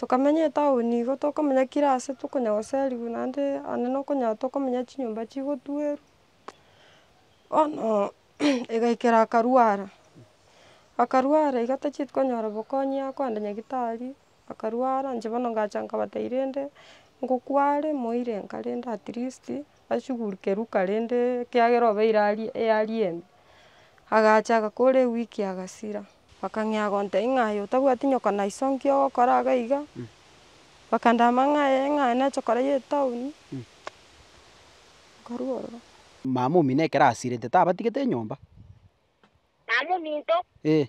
Tokamenya etaoni igo tokomenya kira ase tokonya goserigwa naende ande nokonya tokomenya chinyomba chigotuerwa bono egaikera akarwara, akarwara iga tachieti konyora bokonyi ase koenda nyagitari akarwara inche bono ngacha nkabatairi rende ngokware moire nkarenda at least. ashuguruke ruka rende ekiagera obeire aria eyari embe, agacha agakora ewiki agasira, bakang'ea gontebia ng'a aye otabwati nyoko na iso nki ogokora iga iga, bakandama ng'a ee ng'a aye nache kora ye etaoni, nkarua ororo. Mama omino ekero asirete tabatigete enyomba. Mama ominto. Ee.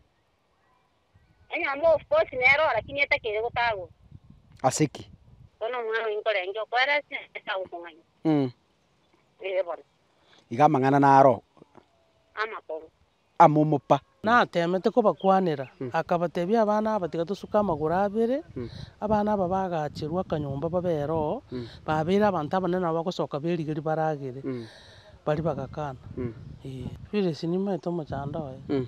Enyomba of course nero lakini etakire gotagurwa. Ase ki? Bono omwana oyio nkorenge okoera ase Nyasae tagomong'aini. Mm. Ee bono. Iga amang'ana naro. Amakoro. Amomopa. Natemete kobakwanera, akabatebia, Abana aba tiga tosuke amagoro abere. Abana aba bagacherwa akanyomba babe ero, babeire abanto abanene nabo bagosoka beriga ribaragere. Baria bagakana. Ee. Phyllis nimaete omochando oye.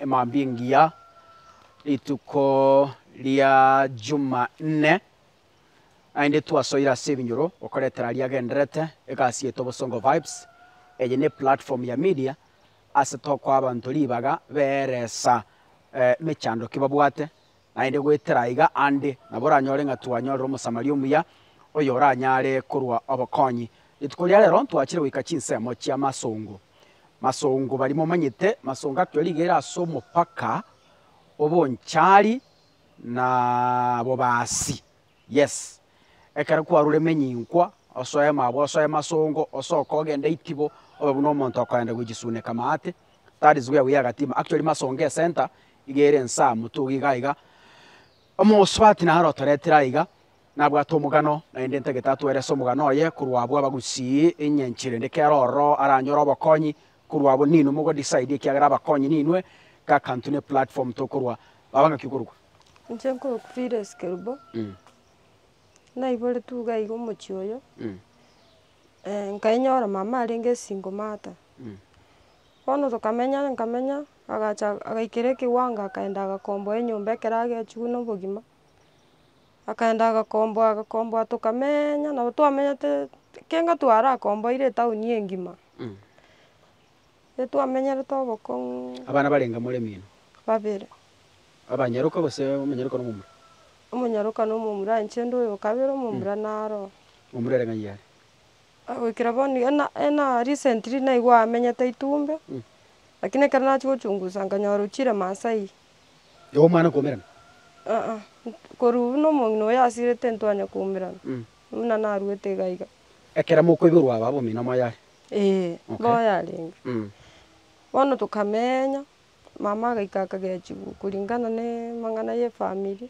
emambia engiya, rituko ria Jumanne, naende twasoire ase ebinyoro gokoretera aria agenderete, egasi yaito Bosongo Vibes, eye ne platform ya media ase tokoa abanto ribaga beeresa emechando ki babwate, Naende goetera aiga ande nabo oranyore ng'a twanyorire Omosamaria omuya oyoranyare korua obokonyi. Rituko ria rero ntwachire goika chinsemo chia masongo. Masongo baria momanyete, masongo akio rigere ase omopaka o Bonchari na Bobasi. Yes, ekero kwaruremenye inkwa, osoe mabwe, osoe masongo, osoke ogende itibo, obe buna omonto okoenda gochisuneka amaate, that is where we are Gatiima, actually masongo ecentre iga ere nse aa motugi igaa iga, omosubati naro otoretire aiga, nabwate omogano naende entagete atwerese omogano oye korwa abwo abagusii enyanchire rende kera ororo aranyore obokonyi. Korwa abwo ninwe mogo decide ekiagera abakonyi ninwe gakantu ne platform tokorwa baba ngaki okorwa. Inche nko Phyllis Kerubo, naiboretwe iga iga omochie oyo, nkainyora mama arenge single mother, bono tokamenya nkamenya agacha agaikera ekiwango akaenda agakomboa enyomba ekero agechiwu na obogima. Akaenda agakomboa agakomboa tokamenya nabo twamenyete ekenga twarakomboire etaoni engima, etwamenyerete obokong'u. Abana barenge more mino? Babere. Abanyaroka gose omonyaroka na omomura? Omonyaroka na omomura aye inche nde oyokabere omomura naro. Omomura ere ng'ai are? Goikera bono iga na ena recently naigwe amenyete Itumbe, lakini ekero nachia gochungusa nkanyora ochire Maasai. y'Omwana koumerana? Aa, korwa buna omong'ina oyo asirete ntwanya koumerana, buna naruete iga iga. Ekero mokoiborwa aba abomino moyare? Ee, mboyarenge. Bono tokamenya, mama agaika akagechigwa koringana nemang'ana y'efamiri,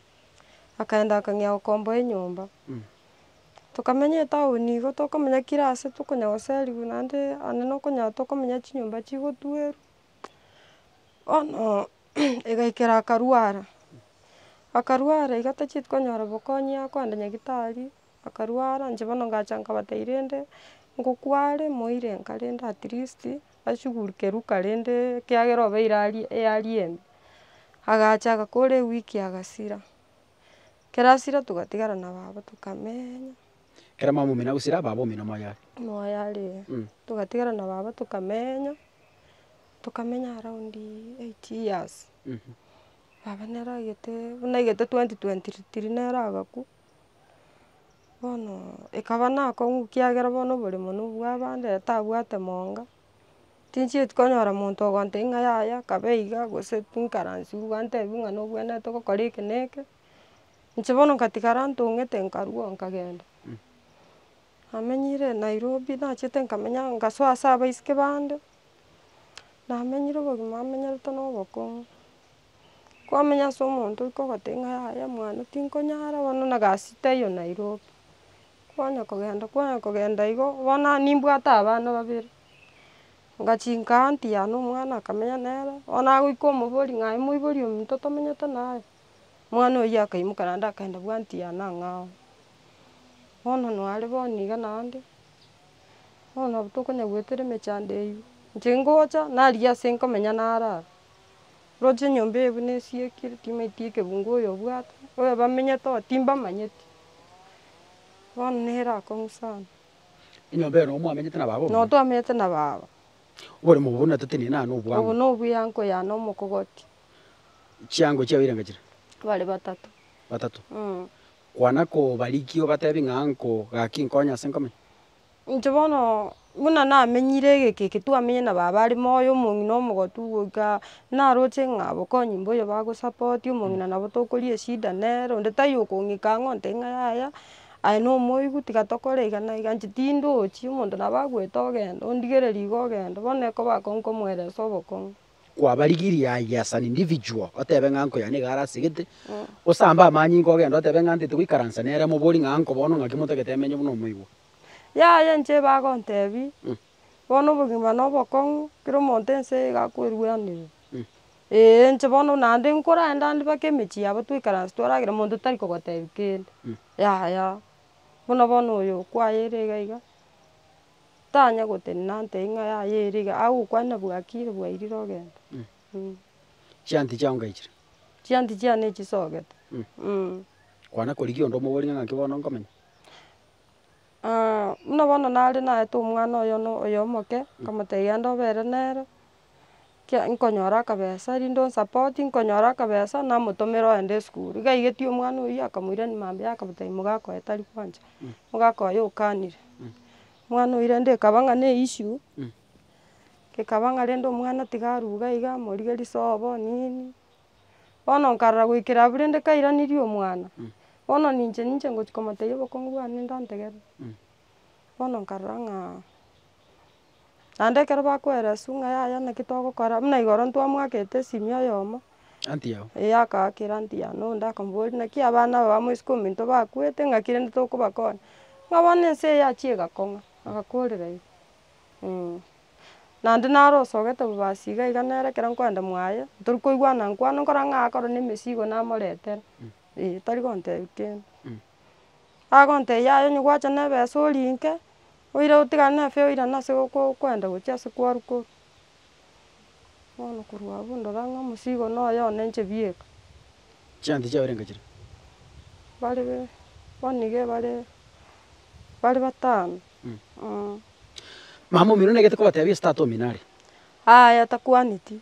akaenda akang'ea gokomboa enyomba. Tokamenya etaoni igo, tokomenya kila ase tokonya goserigwa naende ande nokonyora tokomenya chinyomba chigotuerwa. Bono egaikera akarwara, akarwara iga tacheti konyora bokonyi aa kogenda nyagitari, akarwara inche bono ngacha nkabatebi rende ngokware moire nka rende at least ashugulike ruka rende ekiagera obe ira arie earie ime, agacha agakora ewiki agasira, ekero asira togatigara na baba tokamenya. Ekero mama omino agosira baba omino moyo are. Moyo are ee. Togatigara na baba tokamenya. Tokamenya around eight years, baba nere agete buna egete twenty twenty three nere agakwa, bono ekaba nakong'u ekiagera bono oboremo na obwa abande ere tabwate monga, tinchieti konyora monto ogontebia ng'a yaya kabe iga gose tinkaransiwu gwantebiwu ng'a nobwenerete ogokora eke na eke, inche bono nkatigara ntong'ete nkarwo nkagenda. Namenyire Nairobi nachete nkamenya ngasoa ase abaiseke bande, namenyire obogima amenyerete na obokong'u, kwamenya ase omonto ore kogoteba ng'a yaya mwane tinkonyara bono na egasi taiyo Nairobi, kwanya kogenda kwanya kogenda igo, bono nimbwate abana babere, ngachinka aunty yane omwana akamenya nere, bono agoika omobori ng'a aye moibori omonto tomenyete naye. Omwana oyio akaimoka naende akaenda bwa anti yane ang'e ao, bono noare bono niga naende, bono nabo tokonya goetera emechando eyio, inche ngocha narigia ase nkomenya narara, oroche enyomba eye buna esiekire timaeti ekebungo oyo obwate, oyo bamenyete oo timbamanyeti, bono nere akong'u sana. Enyomba ero nabo mwamenyete na baba omuya? Nabo twamenyete na baba. Oboremo obo natatenena obo nobobe? Obo nobuya nkoyane omokogoti, chiango chiao eira ngachire. Bare batato. Batato. Mm. Kwana kobarikia obatebi ng'a nko gaki nkonye ase nkomenya. Inche bono buna namenyire egeke eke twamenyire na baba are moyo omong'ina omogotu goika naroche ng'a bokonyi mboyo bagosapoti omong'ina nabo tokoria eshida nere onde taiyo okong'ika ang'e ontebia ng'a yaya aye na omoigu tiga tokore iga na iga inche tindochi omonto nabo agoeta ogende ondigereri iga ogende bono ekoba akonkomoeresa obokong'u. kwabarigiria aye as an individual otebe ng'a uncle yane iga are ase egete, osambe amanyinga ogende otebe ng'a ntete goikaransa nere mobori ng'a uncle bono ng'aki motagete emenye buna omoigwa. Yaya inche bagontebi, bono obogima na obokong'u kera omonto ense eye iga akwerwenerera. Ee inche bono naende nkorenda ande mpaka emechie yabo twaikaransa twaragera monto tari kogotebi kende, yaya. Buna bono oyo okwayeire iga iga, Tanya gotenena nte ing'a yaye ere iga, agokwana bwakire bwairire ogenda. Chianti chiao ngaichire. Chianti chiao nechisogete. Kwana korigia onde omoborie ng'a naki bono nkomenya. Buna bono nare naete omwana oyomo oyomo omoke, nkamotebia genda obere nere, Ekiagera nkonyora akabesa rinde onsapoti, nkonyora akabesa namotomera oende esukuru. Iga aigeti omwana oyio akamoirani mambia akamotebia mogaka oye tari kwancha, mogaka oye okanire. Omwana oyio rende ekaba ng'a ne issue, ekaba ng'a rende omwana tiga aruge iga amorige risobo nini, bono nkarora goikera abwo rende kairanirie omwana, bono ninche ninche ngochia komotebia obokongu bwane ndantegerera, bono nkarora ng'a. Naende ekero bakoereswa ng'a yaya naki togokora, buna igoro ntwamoakete esimi oyomo, eh akaakera auntie one onde akamboria naki abana aba bamo isiko ominto bakwete ng'aki rende tokobakonya, ng'a bono ense eye yachia egakong'a, agakorera igo eh. Naende naro osogete bobasi iga iga nere ekero nkoenda mwaye, tori koigwana nkwano nkora ng'a akorwa na emesigo namoretera, eh tari gontebia kende. Agontebia yaya onye gwacha na ebesa orinke. Oira otigane na efe oirane ase goko kwenda gochia ase kwaru korwa. Bono korwa abwo ndora ng'a omosigo na oye one inche bieka. Chianti chiabo renge chire? Bare bono iga bare, bare batano. Mama omino negete kobatebia ase tata omino are. Aya takwaneti.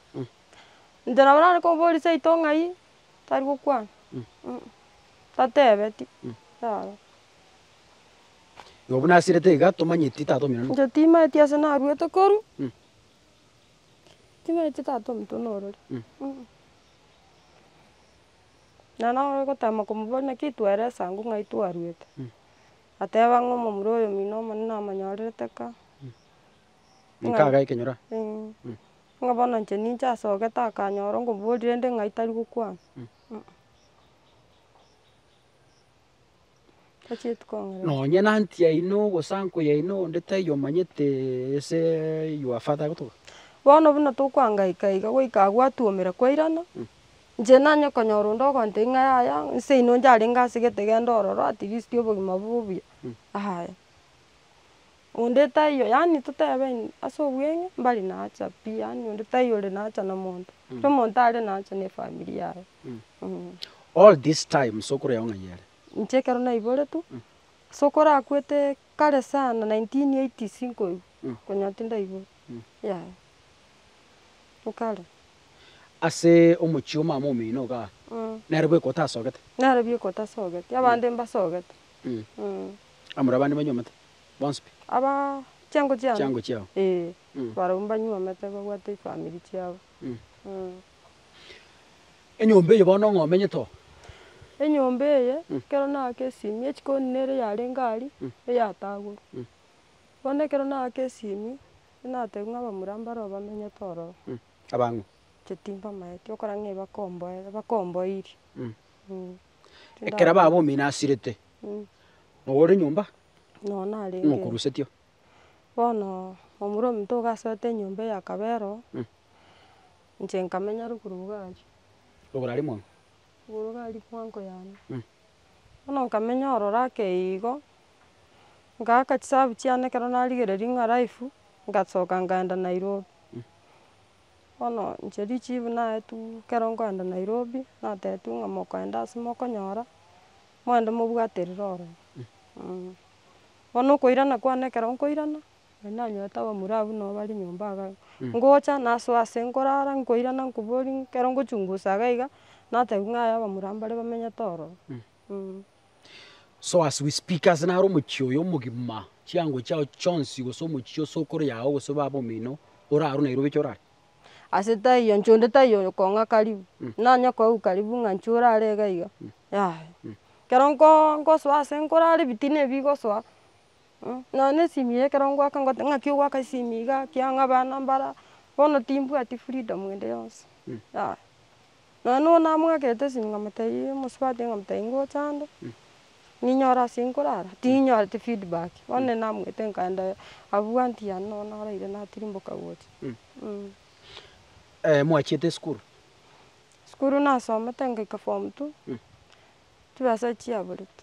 Inche nabo nare koboria seito ng'ai, tari gokwana. Tatebeti. Igo buna asirete iga tomanyeti tata omino nokina. Inche timaeti ase naruete koru, timaeti tata omonto norori na nabo ogotema komoboria naki tware esango ng'ai twaruete, ateba ng'a omomura oyomino omonene amanyorerete ka. Nkaga ekenyoro ng'a bono inche ninche asogete akanyora onkomoboria rende ng'ai tari gokwana. Nonya nanti yaino ogosanku yaino onde taiyo omanyete ase your father gotoka. Bono buna tokwangaika iga goika agwo atwomera kwairana, inche nanye konyora onde ogontebia ng'a yaya nse ino njarenge asegete genda ororo at least obogima bobe obuya, yaya. Onde taiyo yaani totebe ase obweng'e mbari naacha pi yaani onde taiyo ore naacha na omonto, kera omonto are naacha na efamiri yaye. All this time ase okoreba ng'a yere. Inche ekero naiboretwe, ase okorakwete kare sana nineteen eighties nkoigwa, konya tindaigwete, yaya, nkare. Ase omochie o mama omino iga, nere bweka otasogete? Nere bweka otasogete, abande mbasogete. Amura abande mbanyomete? bonsi pi? Aba chiango chiane? Chiango chiao. Ee. Mm. Barabwo mbanyuomete babwate chifamiri chiabo. Mm. Mm. Enyomba eye bono ng'a omenyete oo? Enyomba eye, Mm. ekero naaka esimi, echikoni nere yarenge aria, Mm. eyatagorwa. Mm. Bono ekero naaka esimi, natebia ng'a abamura mbaro bamenyete ororo. Mm. Abang'u? Inche timbamaeti, okora ng'a ebakomboe, ebakomboiri. Mm. Mm. Ekero baba omino asirete, nonya ore nyomba, nonya narenge, nigo okorusetio. Bono omura ominto iga asoete enyomba eye akaba ero, inche nkamenya ruguru iga aria, Ruguru aria mwango. ruguru iga aria mwango yane. Bono nkamenya ororo ake igo, ngaaka chisabu chiane ekero narigereria ng'a life, ngasoka ngaenda Nairobi. Bono inche richiefu naetwe ekero nkoenda Nairobi, natetwe ng'a mokoenda ase mokonyora, moende mobwate riroro eh, bono okoirana kwane ekero nkoirana, nari nanyorete abamura abwo nabo bare nyomba iga iga, ngocha nasoa ase nkorara, nkoirana nkoboria ekero ngochungusa iga iga, natebiwa ng'a aye abamura mbare bamenyete ororo. So as we speak, ase naro omochie oyo omogima, chiango chiao chionsi, gose omochie chia osokoro yao, gose baba omino, ore aro Nairobi echo orare? Ase taiyo inche onde taiyo oyokong'a karibu, nanye koigwa karibu ng'a inche orare iga iga, yaya. Ekero nko nkosoa ase nkorara ebitina ebi bigosoa. Nonya ne esimi eye ekero ngoaka ngote ng'aki ogoaka esimi iga ki ang'o abana mbara, bono timbwati freedom ende yonsi yaya. Nonya nonya namoakete esimi nkamotebia mosubati nkamotebia ngocha ande, ninyore ase nkorara, tinyoreti feedback, bono nere namoete nkaenda abwo anti yane nonya naraire natirimboka gocha. mwachiete esukuru? Esukuru nasomete ngoika form two, chibesa echiaborete.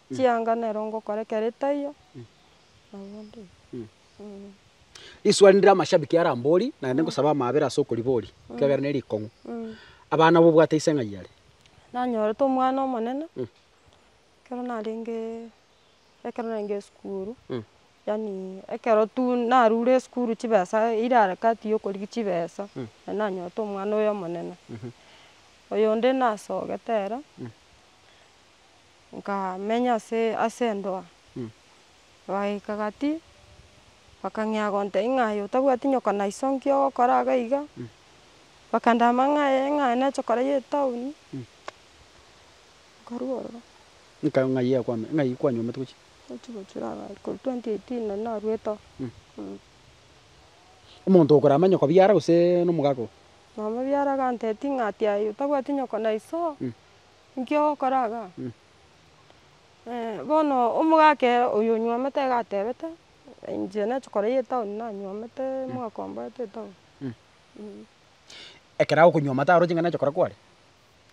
Chianga nero ngokora ekero etaiyo, nabo onde oyo. Risuari ndire amashabiki are ambori naende ngosaba amaabera ase okoribori ekiagera ne rikong'u. Abana nabo obwate ise ng'ai are? Nanyorete omwana omonene ekero narenge ekero narenge esukuru yaani ekero tu narure esukuru chibesa eira harakati ya okorigia chibesa naende nanyorete omwana oyo omonene. Oyo onde nasogete ere. nkamenya ase ase endoa, bagaika gati, bakang'ea gontebia ng'a aye otabwati nyoka na iso nki ogokora iga iga, bakandama ng'a ee ng'a aye neche korai etaoni, nkarua ororo. Nka ng'ai yakwame ng'ai kwanyomete gochia? Gochia gochora ng'a korwa twenty eighteen nari naruete oo. Omonto okorama nyoko biara gose nomogaka oo? Mama biara gantebi ng'a ati aye otabwati nyoko na iso oo. Inki ogokora iga? bono omogaka ere oyo onywomete iga atebete, inche nachi korai etown nanywomete omogaka omborete etown. Ekero agokonywoma taro ching'ana echi okora kware?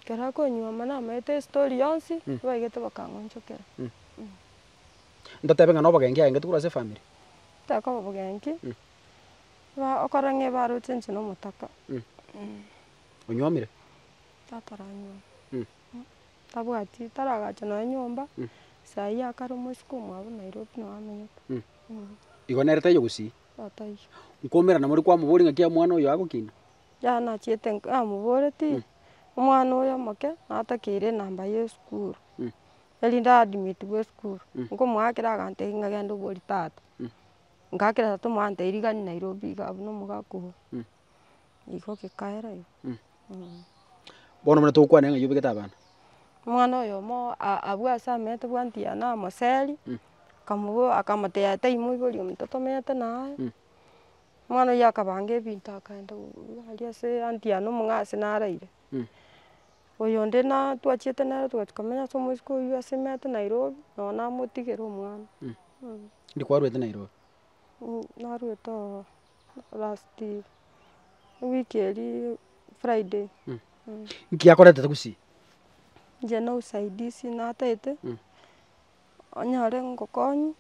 Ekero akonywoma namaete estori yonsi, nibaigete bakang'onchokera. Ntotebe ng'a na obogenki aengete korwa ase efamiri? Tekoba obogenki, ba- okora ng'a ebaroche inche na omotaka. Onywomire? Tata oranyuoma, tabwati, taragacha nonya nyomba, saa eyio akaromwa isiko omwabo Nairobi noo amenyete, eeh. Igo nere taiyo gosii? Igo taiyo. Nkoumera na more kwamoboria ng'aki omwana oyo agokina? Yaya nachiete nk- namoboretie, omwana oyo omoke natakeire enamba ya esukuru, erinde aadmitiwe esukuru, nkomoa ekero agantebi ng'a genda obori tata, ngakera tata omoa antebi rigari Nairobi iga abwo na omogaka obo. Igo gekaera igo eh. Bono buna togokwana ng'a yobegete abana. Omwana oyomo a- abwo ase amete bwandia na moseri, akamobo akamotebia tai moibori omonto tomete naye, omwana oyio akabanga ebinto akaenda korwa aria ase anti yane omong'asi naraire. Oyonde na twachiete nere togachia komenya ase omosike oyio ase emete Nairobi, nonya namotigera omwana. Ndikwarwete Nairobi. Narwete oo. last ewiki eria friday Nki yakoretete gusii? Inche na usaidizi natete, onyore ngokonywe,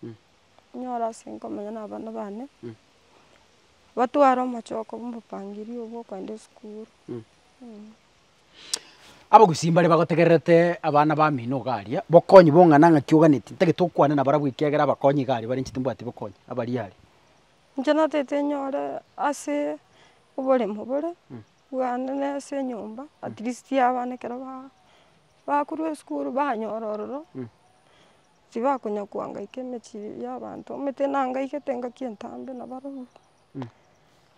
onyore ase nkomenya na abana bane, batware omochoko bwa omopangiri obo okoenda esukuru. Abagusii mbare bagotegererete abana bamino iga aria, bokonywe bong'ana ng'aki oganeti, ntagete okwana nabarabwo ekiagera abakonyi iga aria bare inche timbwati bokonywa, abaria aria. Inche natete nyore ase oboremo bore, bwane na ase enyomba, at least abana ekero ba bakorwa esukuru banyora ororo, tibakonya koangaika emechie ya abanto, omanyete nangaigete engaki entambe na barabwo,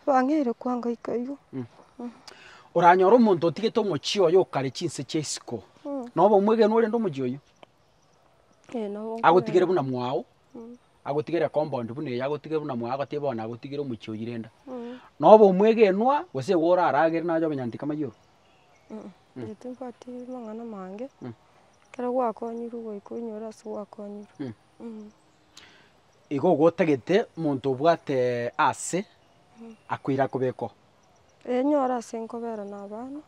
bang'eire koangaika igo. Oranyore omonto otigete omochie oye okare chinse chia isiko, noba omwegeni orende omochie oyio? Ee nabo nkorende. Agotigere buna mwao, agotigere compound buna eye agotige buna mwago agotiga bono agotigire omochie oywo renda. Na obe omwegenwa gose igo oraragere naye onyanti kamaiyoro. Inche timbwati amang'ana mange, ekero gwakonyirwe goika oinyore ase gwakonyirwe. Igo gotagete omonto obwate ase akoira akobekoo. Ee nyora ase nkobera na abana,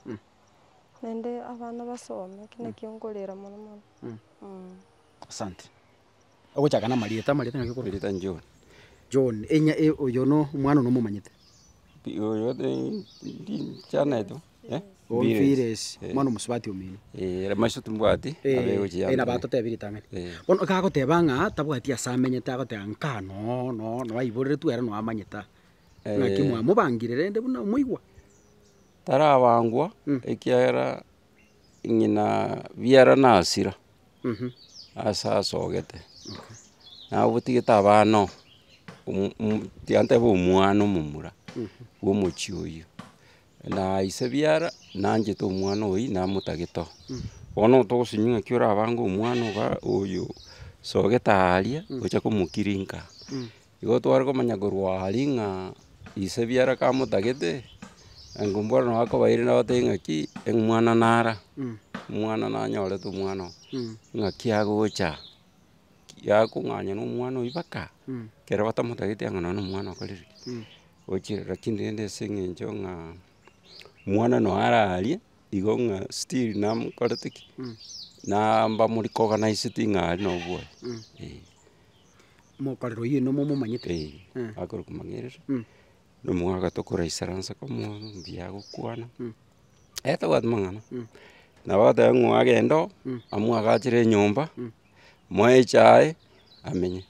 naende abana basome, ekio nakio nkorera mono mono. Asante. Ogochaka namarieta, amarieta naki okorosia? Rieta John. John, enya e- oyo no omwana one omomanyete? Pi- oyo ri- ri- chaneti bo, eh? Oh, Mpiresi. Mpiresi, Eh. omwana omosubati omino. Eh, ere maiso timbwati, Eh, abe gochi eh, yambere. nabo atotebi ritang'ani. Eh. Bono ekagoteba ng'a tabwati ase amenyete agoteba nkaa noo noo noo aiboreretwe ere noo amanyete aa. Naki Eh. mwamobangire rende buna omoigwa. Tarabangwa, ekiagera ng'ina biara nasira, ase asogete, nabotigete abana oo, omo- omo- tiga ntebe omwana omomura, bwa omochie oyio, na ise biara, nanchete omwana oyio namotagete oo. Bono otogosinyiwa ng'aki orabange omwana oga oyo sogete aaria, ocha komokirinka aa. Igo tware komanya korwa aria ng'a ise biara kamotagete, engumbu ore nabo akobaeire nabatebie ng'aki omwana nara, omwana nanyorete omwana oo, ng'aki agocha aa, yakong'anywa na omwana oyio baka ekero batamotageti ang'e nonye na omwana okorire ki, ochire rakini rende ase eng'encho ng'a omwana noyo ara aria, igo ng'a still namokorete ki, naambamori koganaisetie ng'a aria nobwoye, eeh. mokorera oyio oino momomanyete. Eeh, akorwa komang'erera, na omogaka agataka koraisera inse komoa mbuya agokwana, aye tabwati mang'ana, nabo agateba ng'o agende oo, amwagachere enyomba, amoe echae, amenye.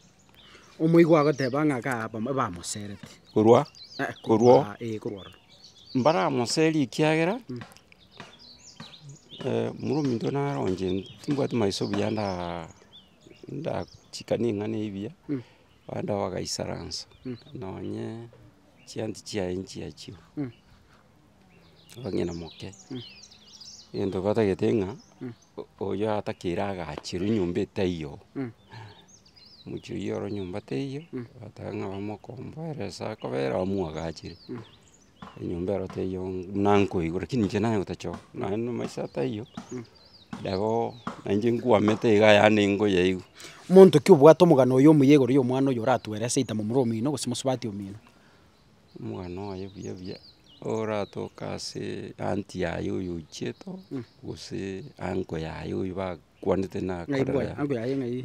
Omoigwa agoteba ng'a kaa aba bamoserete. Korwa korwa oo. Ee korwa ororo. Mbaramoserie ekiagera, muru ominto naronche timbwati maiso buya ndaa. ndachika ning'ana ebiya, abande nabo bagaisaransa, nonye chianti chiaye nchiachio, abang'ina moke, egento batagete ng'a oyo atakeire agachirwe nyomba etaiyo, omochie oyio oro nyomba teiyo, bateba ng'a bamokomboere ase akobera bamwagachire. Enyomba ero teiyo buna nkoigwa rakini inche nanye gotachoka, nonye na omaiso aa taiyo, nabo na inche nkwamete iga ayande nkoyaigwa. Monto ki obwate omogano oyo omuya igoro y'omwana oyo oratwere seita momura omino gose mosubati omino? Omogano oye buya buya, oratoke asee anti yaye oyo ochiete oo, gose uncle yaye oyo bakwanete nakorera yaye. Uncle yaye ng'ai?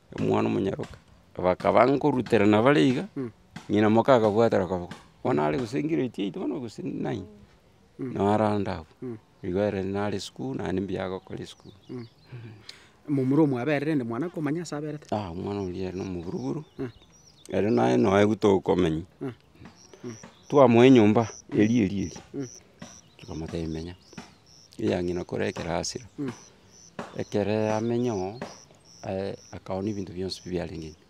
omwana omonyaroka. Bakaba nkoruterana bare iga, ng'ina moka akabwatera akaboko, bono are gose grade eight bono gose nine, naro arande abwo, igo ere nare isiko naende mbuya agokora isiko. Momura omwaberire rende mwana komanya ase aberete. Ah omwana oria ere na omoburuburu, ere naye noe gu tokomenya, twamoa enyomba eria eria eria, tokamotebia menya, eya ng'ina kore ekerasira. ekero yamenya oo, aye akaonia ebinto bionsi pi biarengeirio,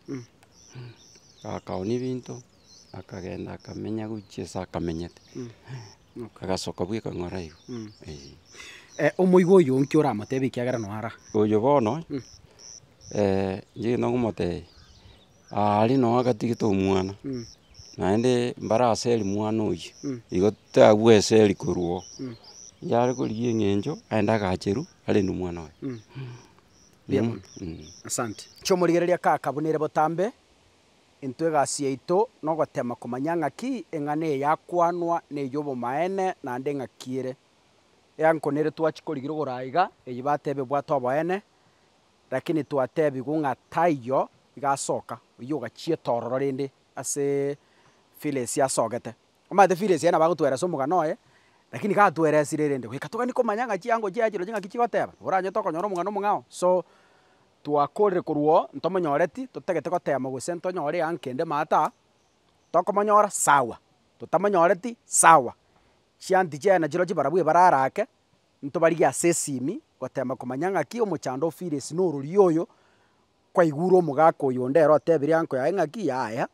akaonia ebinto, akagenda akamenya gochia ase akamenyete, agasoka bwa ekang'ora igo eeh. omoigo oyo nki oramotebe ekiagera noyo ara? Oyo bono, inche egento ngomotebia. Aria nonya agatigete omwana, naende mbare aseri mwana oyio, igo tagwe eseri korwa oo. Yare korigia eng'encho, aende agacherwe, arende omwana oye. Mbuya mono. Asante. Chi'omorigereria kaka buna ere botambe, intwe egasi yaito nogotema komanya ng'aki eng'ana eye yakwanwa ney'obomaene naende ng'aki ere. Eango nere twachi korigirogora aiga, eyi bateba ebwate oboene, Lakini twateebigwe ng'a taiyo igasoka, oyio ogachieta ororo rende ase Phyllis asogete. Omanyete Phyllis aye nabo agotweresa omogano oye, lakini gatweresire rende goika togani komanya ng'a chiango chiaye chirochio ng'aki chigoteba, nabo oranyete okonyora omogano omong'ao. So, twakorire korwa oo ntomonyoreti, totagete gotema gose ntonyore yanga kende maata, tokomonyora sawa, totamonyoreti sawa, chianti chiaye nachirochio barabwo ebarara ake, Ntobarigie ase esimi goteema komanya ng'aki omochando o Phyllis n'ororio oyo kwaigure omogaka oyo onde ere otebire anko yaye ng'aki yaya.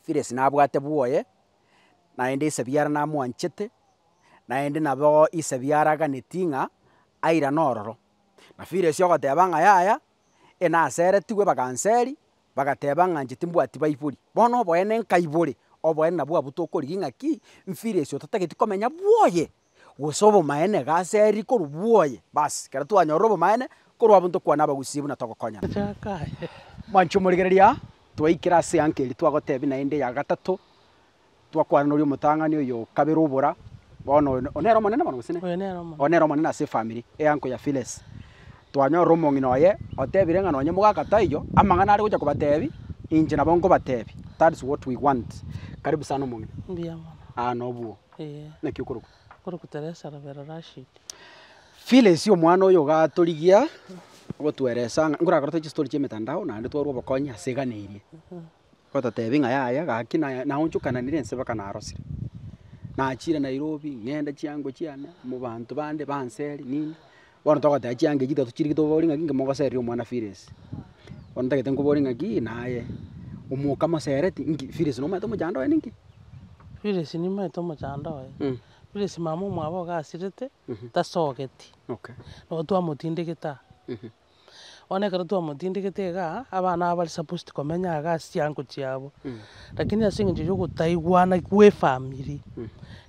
Phyllis nabwate bwoye, naende Isebiara namwanchete, naende nabo Isebiara aganetie ng'a airane ororo. Na Phyllis ogoteba ng'a yaya, enaseretigwe baganseri, bagateba ng'a inche timbwati baibori. Bono oboene nkaibore, oboene nabwo abwo tokorigia ng'aki, Phyllis otatageti komenya bwoye. gose obomaene iga aseri korwa bwoye, basi, ekero twanyorire obomaene korwa abo ntokwane abagusii buna togokonyana. Mwanche omorigereria aa, twaikire ase eanka eria twagotebia naende eya gatato, twakwana noria omotang'ani oyo o kabere obora, bono oyo oyo nere omonene bono gose ne? Oyo nere omonene. Oyo nere omonene ase efamiri, eanko ya Phyllis. Twanyorire omong'ina oye, otebire ng'a nonye mogaka taiyo, amang'ana are gocha kobatebia, inche nabo nkobatebia, that's what we want. Karibu sana omong'ina. Mbuya mono. Aa nobwo Ee. Naki okorokwa? Okorokwa Teresa Robero Rashid. Phyllis omwana oyo gatorigia gotueresa ng'a nkorakorete chistori chia emetandao naende twarwa obokonyi ase egana eria. Gototebi ng'a yaya gaki na naonchokananire ense mpaka narosire. Nachire Nairobi ng'ende chiango chiane mobanto bande banseri nini, Bono togoteba chianga echi tato chirike tobabori ng'aki inki mogoseria omwana Philis. Bono ntagete nkobori ng'aki naye, omoka mosereti inki Philis nomaete omochando oye ninki? Philis nimaete omochando oye, Philis mama omwabo ogasirete, tasogeti, nabo twamotindegete aa. Bono ekero twamotindegete iga, abana abwo bare supposed komenya iga ase chiango chiabo, lakini ase eng'encho ya ogotaigwana kw'efamiri,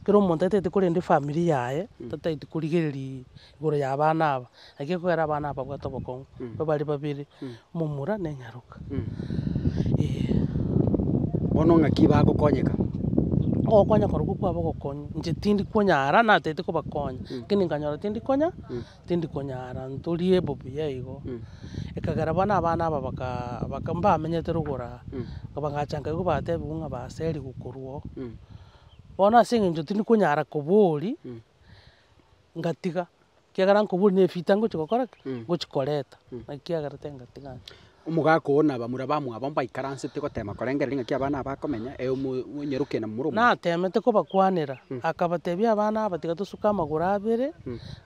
kera omonto atagete korenda efamiri yaye, tatagete korigereria igoro y'abana aba, naki ekogera abana aba babwate obokong'u, nigo bare babere, omomura na enyaroka, eeh. Bono ng'aki bagokonyeka? Ogokonyeka korokwo kwabo ogokonywa, inche tindi konyara natete kobakonya, lakini nkanyora tindi konya. Tindi konyara ntorie bobuya igo. Ekagera bono abana aba baka mbamenyete rogoro aa, bagacha nkaigwa batebigwa ng'a baserigwe korwa oo. Bono ase eng'encho tindi konyara koboria, ngatiga, ekiagera nkoboria ne efita ngochi gokora ki? Ngochi koreta. Naki kiagerete ngatiga ng'a. Omogaka oo na bamura bamwabo mbaikaransete goteema korengereria ng'aki abana aba akomenya, ee omonyarokia na momura omwabo. Nateemete kobakwanera, akabatebia, Abana aba tiga tosuke amagoro abere,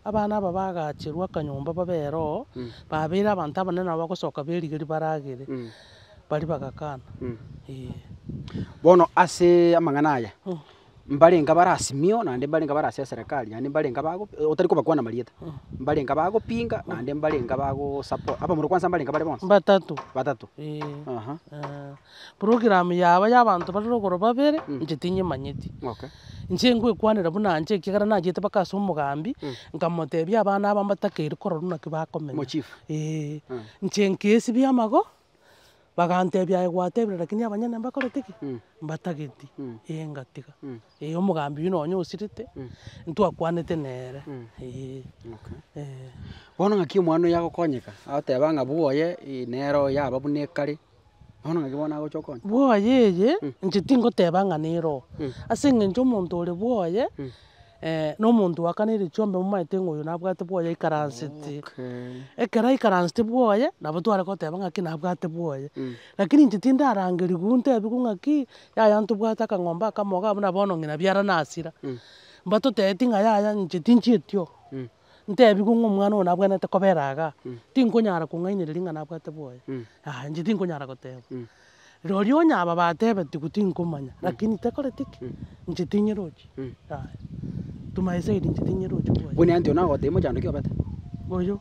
abana aba bagaacherwe akanyomba babe eroho, baabeire abanto abanene nabo bagosoka b'erigeri baragere. Baria bagakana, Ee. Bono ase amang'ana aya mbarenge abare asimio, naende mbarenge abare ase eserekari, naende mbarenge abago otari kobakwana amarieta, mbarenge abagopinga, naende mbarenge abagosapoa, abamura kwansa mbarenge bare bonsi. Mbatatu. Batato. Eeh. Aha. Eeh. Program yabo ya abanto barere igoro babere, inche tinyemanyeti. Okay. Inche ngwekwanera buna inche ekiagera nachiete mpaka ase omogambi, nkamotebia abana aba mbatakeire kororwa naki bakomenya. Mochief. Eeh. Inche nkeesibia amago. Bagantebia aye gwatebire lakini abanyene mbakorete ki? Mbatageti, ee ngatiga, ee omogambi oyio nonye osirete, ntwakwanete nere, ee. Eeh. Bono ng'aki omwana oyio agokonyeka, agoteba ng'a bwoye ii nere oyo yaba buna ekare, bono ng'aki bono agocha okonya? Bwoye eye, inche tingoteba ng'a nere oo, ase eng'encho omonto ore bwoye. na omonto oa kane erio chiombe momaete ng'a oyo nabwate bwoye aikaransete. Ekero aikaransete bwoye, nabo tware goteba ng'aki nabwate bwoye. Lakini inche tindarangerigwe ntebigwe ng'aki, yaya ntobwate akang'ombe akamo iga buna bono ng'ina biarana asira. Mbatotebeti ng'a yaya inche tinchieti oo. ntebigwe ng'a omwana oyo nabwenerete kobera igaa, tinkonyara kong'ainereria ng'a nabwate bwoye, yaya inche tinkonyara goteba. Roria onye aba batebetigwe tinkomanya, lakini tekoreti ki? inche tinyerochi, yaya to my side inche tinyerochi bwoye. Buna ntwe nagotebia mochando ki obete? Oyio?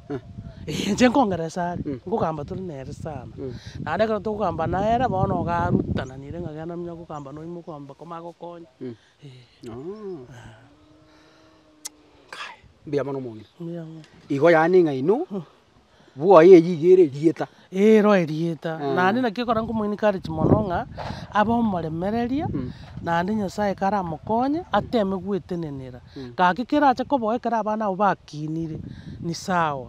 Eh, inche nkongeresa are, nkogamba tore nere sana. Naende ekero tokogamba nere bono ogarutananire ng'a genda nonya gokamba noimoka ombe komanye gokonya, Mbuya mono omong'ina. Igo yaani ng'a inwe bwoye eyio iga ere erieta. Ero erieta. Naende naki ekero nkomo encourage mono ng'a abe omoremereria naende Nyasaye ekero aramokonye ateme gwetenenera. Gaki kere ache koboa ekero abana abwo bakinire ni sawa.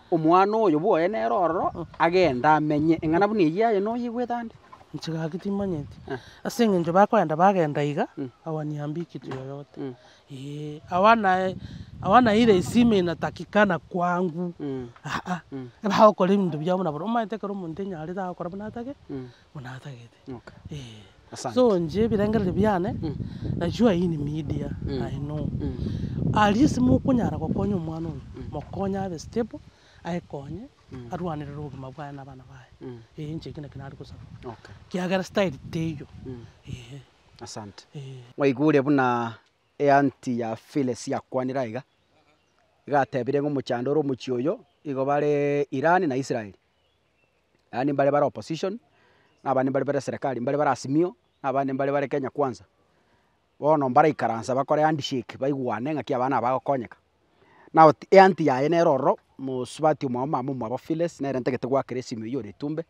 Omwana oyo bwoye nere ororo agende amenye, eng'ana buna eyio yaye noyegwete ande? Inche gaki timanyeti. Ase engencho bakoenda bagenda iga, hawaniambiki yoyote. Hawana hawana ile isima inatakikana kwangu, aa, eba agokora ebinto biabo buna boronge. Omanyete ekero omonto enyarete agokora buna atagete? buna atagete. Okay. Eeh. Asante. So inche ebirengererio biane, Mm. that you are in media, Mm. I know. Mm. At least mokonyara gokonya omwana oyo, Mm. mokonye abe stable, aekonye, Mm. arwanerere obogima bwaye na abana baye. Mm. Eeh, inche ekio nakio nare gosaba, Okay. kiagera style teiyo. Mm. Eeh. Asante. Eeh. Mwaigure buna eanti ya Phyllis yakwanire aiga, iga atebire ng'a omochando ore omochie oyo, igo bare Iran na Israeli. yaani mbare bare opposition, na abande mbare bare serekari, mbare bare Azimio, na abande mbare bare Kenya Kwanza, bono mbaraikaransa bakore handshake baigwane ng'aki aba nabo bagokonyeka. Nao ti eanti yaye nere ororo, mosubati omwabo omama omwabo Phyllis, nere ntagete goakera esimi oywo ore Itumbek,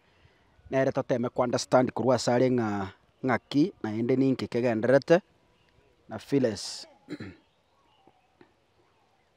nere toteme ko understand korwa ase are ng'a ng'aki naende ninki kegendererete na Phyllis.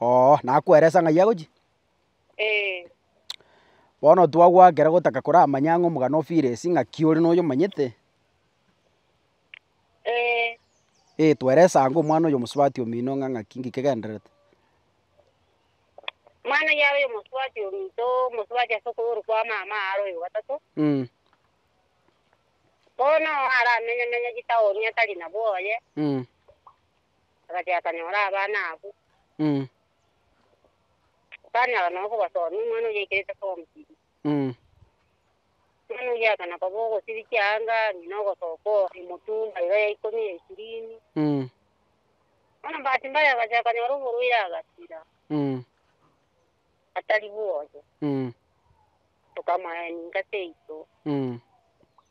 Oo, nakweresa ng'ai agochia? Ee. Bono twagoakera gotaka koramanye ang'e omogano ofire ase ing'aki ore noyo omanyete? Ee. Ee, tweresa ang'e omwana oyo omosubati omino ng'a ng'aki nki kegendererete? Omwana oyio aroyo omosubati ominto, omosubati ase okoyoru kwa mama aro oyo gatato. Mm. Bono aramenye-menye chitaoni atari nabo oye. Mm. Agachia akanyora abana abwo. Akanyara nonya kobasoomia omwana oyio aikerete form three. Omwana oyio akana koba ogosirikia anga ang'e na ogosoka oo emotumba iga ya ikomi ya ishirini. Bono bahati mbaya agachia akanyora oborwaire agasira, atari bwoye. Tokamoa ninka seito.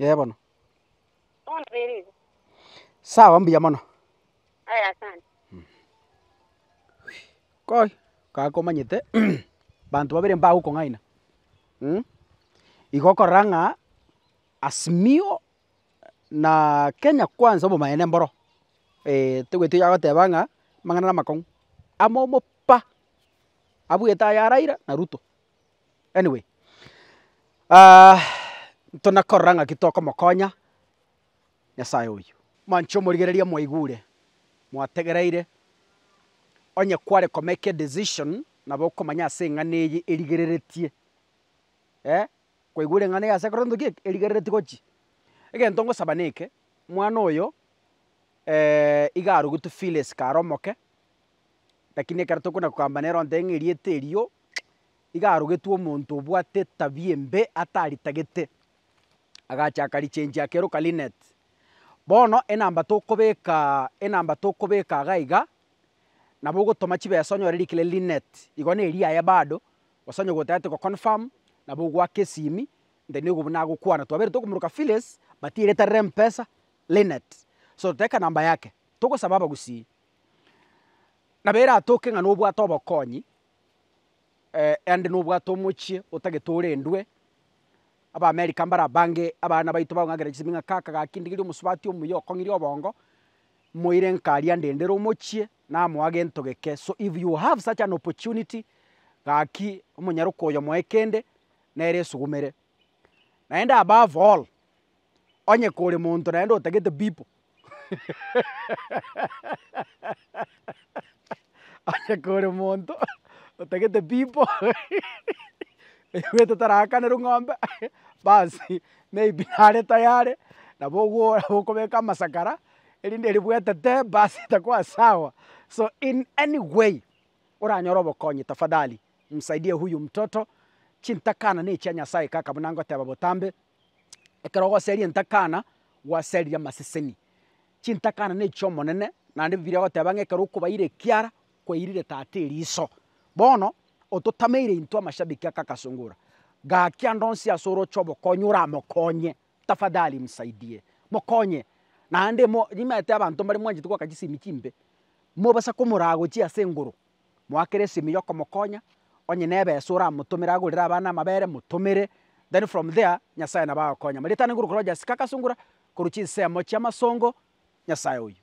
Ee bono. Sawa mbuya mono. Koi kaka komanyete banto babere mbagokong'aina igo okorora ng'a Asmio na Kenya Kwanza obomaene mboro ee, tobwetie oyogoteba ng'a amang'ana na amakong'u. Amo omopa abwete aya Raila na Ruto. Anyway, ntona korora ng'aki tokomokonya Nyasaye oyio. Manche omorigereria mwaigure, mwategereire, onye kware ko make a decision nabo okomanya ase eng'ana eye erigereretie, eh, kwaigure eng'ana eye ase ekero ntoki eke erigereretie gochi. Egento ngosaba neke, mwana oyo iga arugetwe feelesi kare omoke. Lakini ekero tokona kogamba nere ontebie ng'a erieta erio iga arogetwe omonto obwate etabia embe ataritagete, agacha akarichenchia akeroka Lynette. Bono enamba tokobekaa enamba tokobeka iga iga, nabo ogotoma chibesa onyore rikire Lynette, igo ne riaye bado, gose onye gotagete go confirm, nabo ogoaka esimi, nte nigo buna agokwana, twaberete okomoroka Phyllis, but ereta rire Mpesa, Lynette. So totebe ekanamba yake, togosaba abagusii, Nabo eratoke ng'a nobwate obokonyi, erinde nobwate omochie otagete orendwe, Abaamerika mbarabange abana baito bakong'akera chisemi ng'a kaka gaki ndigirie omosubati omuya okong'iria obongo, moire enkari andendere omochie, namoa gento geke, so if you have such an opportunity, gaki omonyaroka oyo moe kende, nere esugumere. Naende above all. Onye kore monto naende otagete bipo, onye kore monto otagete bipo, ebiweto tarakanerwe ng'ombe, basi maybe nare tayare nabo ogwo okobeka amasakara, erinde eri bwetete basi etakuwa sawa, so in any way oranyore obokonyi tafadhali msaidie huyu mtoto, chintakana ne chia Nyasaye kaka buna ngoteba botambe, Ekero ogoseria entakana, gwaseririe amaseseni. Chintakana nechi'Omonene, naende Bibilia egoteba ng'a ekero okobaira ekiara, kwairire tata eriso. Bono, ototameire intwe amashabiki aka agasungura, gaki ande onsi ase oroche obokonyi oramokonye, tafadhali msaidie, mokonye. Naende mo- nimaete abanto mbare mwanchete goaka chisemi chimbe, mobasa komoragochia ase engoro. Moakere esimi yokomokonya, onye nebesa oramotomere agorere abana amabere motomere, then from there Nyasaye nabo agokonya. Marietano igoro korwa Jessica agasungura korwa chinsemo chiamasongo, Nyasaye oyo.